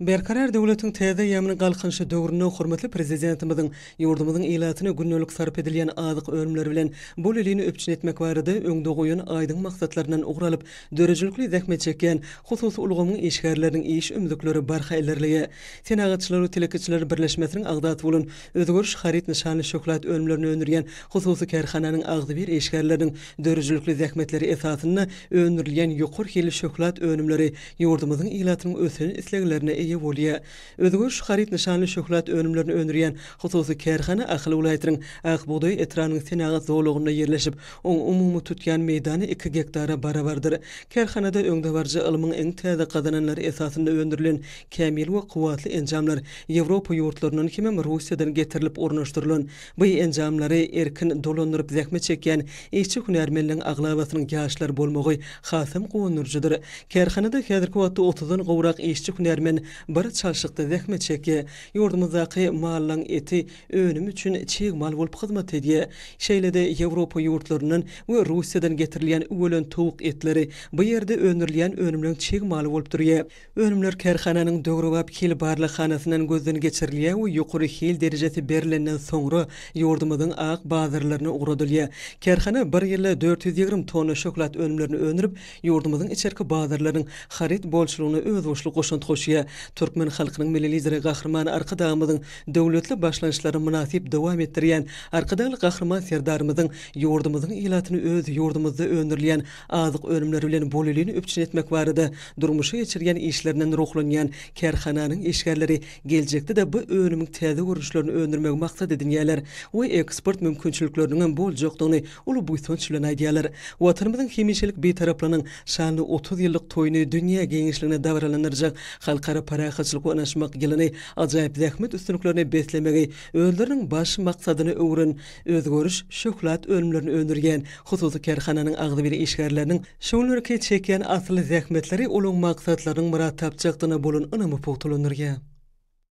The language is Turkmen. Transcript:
Berkarar döwletiň täze eýýamynyň Galkynyşy döwründe hormatly Prezidentimiziň ýurdumyzyň ilatyna gündelik sarp edilýän azyk önümleri bilen bol ilini üpjün etmek barada öňde goýan aýdyň maksatlaryndan ugur alyp, döredijilikli zähmet çekýän hususy ulgamyň işgärleriniň iş ümzükleri barha ilerleýär. Senagatçylar we telekeçiler birleşmesiniň agzasy bolan Özgeriş haryt nyşanly şöhlat önümlerini öndürýän hususy kärhananyň agzybir işgärleriniň döredijilikli zähmetleri esasynda öndürilýän ýokary hilli şöhlat önümleri ýurdumyzyň ilatynyň ösen isleglerine eýe bolýar. Özgöç haryt nyşanly şöhlat önümlerini öndürýän hususy kärhana Ahal welaýatynyň Ak bugdaý etrabynyň senagat zolagynda ýerleşip, oň umumy tutýan meýdany iki gektara barabardyr. Kärhanada öňdebaryjy ylmyň iň täze gazananlary esasynda öndürilen kämil we kuwwatly enjamlar Ýewropa ýurtlaryndan hemem Russiýadan getirilip ornaşdyrylan Bu enjamlary erkin dolandyryp zähmet çekýän işçi hünärmenleriň aglabasynyň ýaşlar bolmagy hasam guwandyryjydyr. Kärhanada häzirki wagtda otuzdan gowrak işçi hünärmen bir çalşykda zähmet çekýär. Ýurdumyzdaky mallaň eti önümi üçin çig mal bolup hyzmat edýär. Şeýle-de Ýewropa ýurtlaryndan we Russiýadan getirilýän üwelen towuk etleri bu ýerde öndürilýän önümleň çig maly bolup durýar. Önümler kärhananyň döwrebap hil barlaghanasyndan gözden geçirilýär we ýokary hil derejesi berilenden soňra ýurdumyzyň ak bazarlaryna ugradylýar. Kärhana bir ýylda dört ýüz ýigrimi tonna şöhlat önümlerini öndürip, ýurdumyzyň içerki bazarlarynyň haryt bolçulygyna özboluşly goşant goşýar. Türkmen halkynyň Milli Lideri Gahryman Arkadagymyzyň döwletli başlangyçlaryny mynasyp dowam etdirýän Arkadagly Gahryman Serdarymyzyň ýurdumyzyň ilatyny öz ýurdumyzda öndürilýän Azyk önümleri bilen bolelini üpjün etmek barada durmuşa geçirýän işlerinden ruhlanýan kärhananyň işgärleri geljekde-de bu önümiň täze görnüşlerini öndürmegi maksat edinýärler we eksport mümkinçilikleriniňem boljakdygyny uly buýsanç bilen aýdýarlar. Watanymyzyň hemişelik Bitaraplygynyň şanly otuz ýyllyk toýuny dünýä giňişligine dabaralandyrjak Halkara parahatçylyk we ynaşmak ýylyny ajaýyp zähmet üstünliklerine beslemegi özleriniň baş maksadyna öwüren Özgeriş şöhlat önümlerini öndürýän hususy kärhananyň agzybir işgärleriniň şu günlerki çekýän asylly zähmetleri olaryň maksatlarynyň myrat tapjakdygyna bolan ynamy pugtalandyrýar.